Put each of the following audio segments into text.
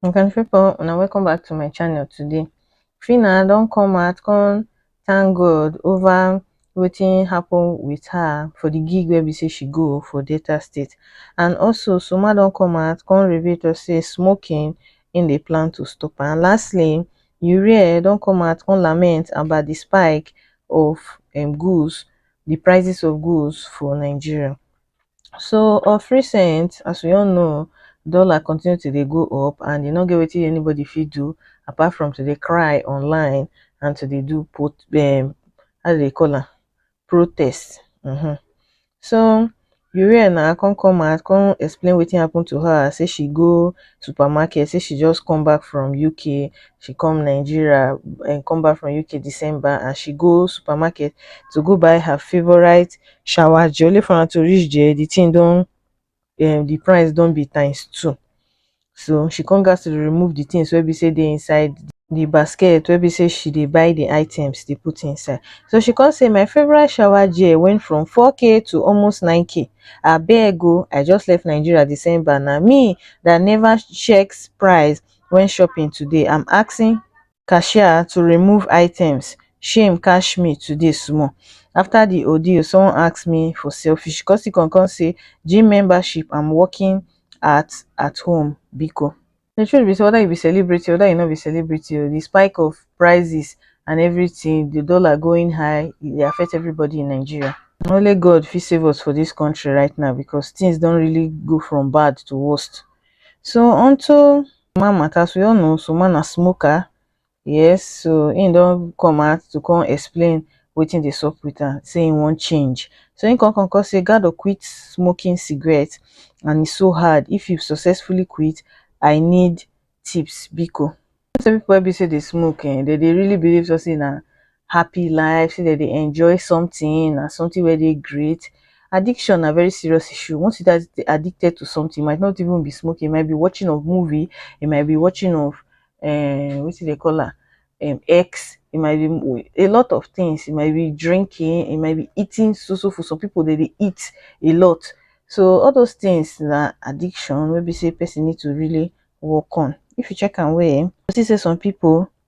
my country people and welcome back to my channel today Phyna don't come out come thank god over wetin happen with her for the gig where we say she go for delta state and also soma don't come out come reveal to say smoking im dey plan to stop am and lastly urea don come out come lament about di spike of um goods di prices of goods for Nigeria so of recent as we all know dollar continue to dey go up and e no get wetin anybody fit do apart from to dey cry online and to dey do um how dem dey call am protest um so uriel na come come out come explain wetin happen to her say she go supermarket say she just come back from uk she come nigeria um come back from uk december and she go supermarket to go buy her favourite shower gel only for am to reach there the thing don um the price don be times two so she come gas to remove the things wey be say dey inside the basket wey be say she dey buy the items dey put inside so she come say my favorite shower gel went from 4k to almost 9k abeg o oh, i just left nigeria december na me that never checks price when shopping today i'm asking cashier to remove items shame catch me today small after the ordeal someone ask me for selfish cos he con con say gym membership and working at at home biko the truth be say whether you be celebrity whether you no be celebrity o the spike of prices and everything the dollar going high e dey affect everybody in Nigeria na only God fit save us for this country right now because things don really go from bad to worst so unto Usman matter as we all know Usman na smoker yes so him don come out to come explain wetin dey sup with am say him wan change so him come come come say Gado quit smoking cigarette and it's so hard if you successfully quit I need tips biko. You know say people wey be say dey smoke um dem dey really believe say na happy life, say dem dey enjoy something, na something wey dey great. Addiction na very serious issue. Once you dey addicted to something, it might not even be smoking, it might be watching of movie, it might be watching of um wetin dey call am um X, it might be a lot of things, it might be drinking, it might be eating so so food. Some people dey dey eat a lot. So all those things na addiction wey be say person need to really work on. If you check am well, you go see say some people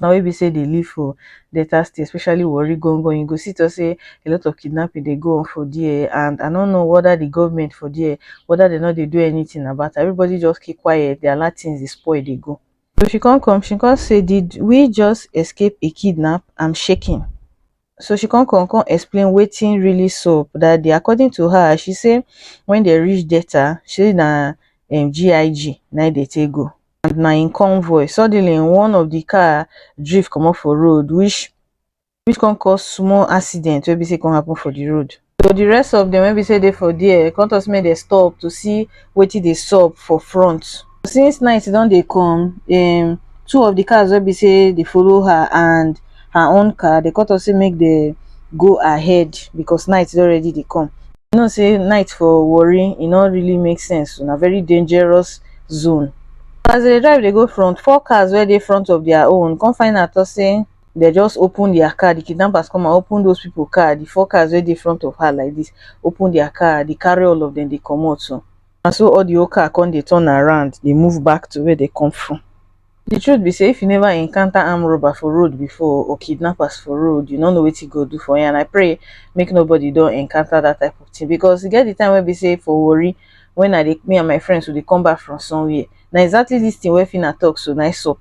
na we be say dey live for Delta state especially Warri gangan you go see talk say a lot of kidnapping dey go on for there and I no know whether the government for there whether they no dey do anything about am everybody just keep quiet dey allow things dey spoil dey go. So she come come she come say did we just escape a kidnap I'm shaking so she come come come explain wetin really sup that day according to her she say when they reach delta she na um gig na im dey take go and na im convoy suddenly one of the car drift comot for road which which come cause small accident wey be say e come happen for the road so the rest of them when we say they for there come talk say make dem stop to see wetin dey sup for front since night don dey come um two of the cars wey be say dey follow her and her own car dey come talk say make dem go ahead because night don already dey come you know say night for Warri e no really make sense na very dangerous zone as they dey drive dey go front four cars wey dey front of their own come find out talk say dem just open their car, the kidnappers come and open those people car, the four cars wey dey front of her like this, open their car, they carry all of them, they comot so. Na so all the whole car come dey turn around, dey move back to where they come from. The truth be say if you never encounter armed robber for road before or kidnappers for road, you no know wetin God do for you and I pray make nobody don encounter that type of thing because e get the time wey be say for Warri when I dey me and my friends we dey come back from somewhere na exactly this thing wey Phyna talk so na im sup.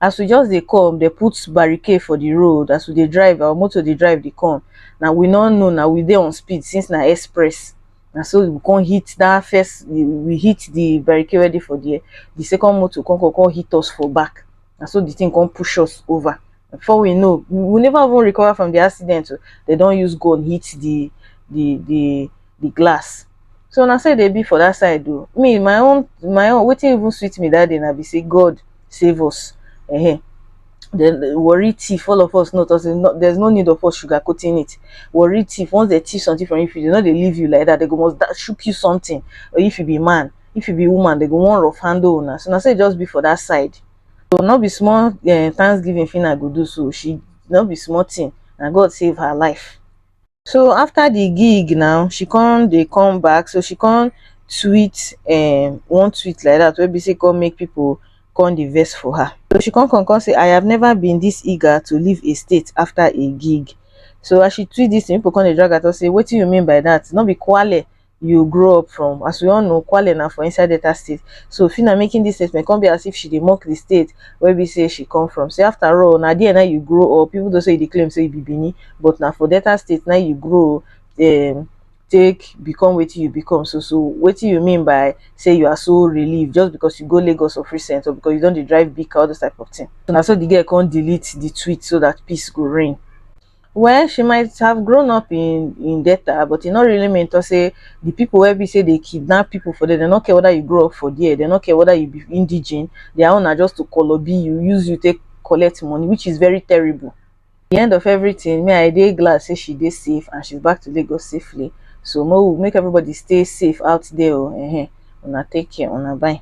as we just dey come dem put barricade for the road as we dey drive our motor dey drive dey come na we no know na we dey on speed since na express na so we come hit that first we, we hit the barricade wey dey for there the second motor come come come hit us for back na so the thing come push us over before we know we never even recover from the accident o they don use gun hit the the the be glass so na so e dey be for that side o me my own my own wetin even sweet me that day na be say God save us uh-huh. then eh, worry thief all of us know us no, there's no need of us sugarcoating it worry thief once they thief something from you if you do not they leave you like that they go must that shook you something or if you be man if you be woman they go one rough handle una so na so e just be for that side so not be small uh, thanksgiving thing i go do so she not be small thing and god save her life so after the gig now she come dey come back so she come tweet um one tweet like that wey be say come make people come dey vex for her so she come come come say I have never been this eager to leave a state after a gig so as she tweet this thing people come dey drag her talk say wetin you mean by that no be kwale you grow up from as we all know kwale na for inside delta state so fina making this statement come be as if she dey mock the state where we say she come from say after all na there na you grow up even though say you dey claim say you be benin but na for delta state na you grow um, take become wetin you become so so wetin you mean by say you are so relieved just because you go lagos of recent or because you don dey drive big car all those type of thing so na so the girl come delete the tweet so that peace go reign Well she might have grown up in in Delta but e no really mean to say the people wey be say dey kidnap people for there, dem no care whether you grow up for there, dem no care whether you be indigene, their own na just to kolobi you, use you take collect money which is very terrible. At the end of everything, me I dey glad say she dey safe and she's back to Lagos safely. So make we make everybody stay safe out there o, um una take care, una bye.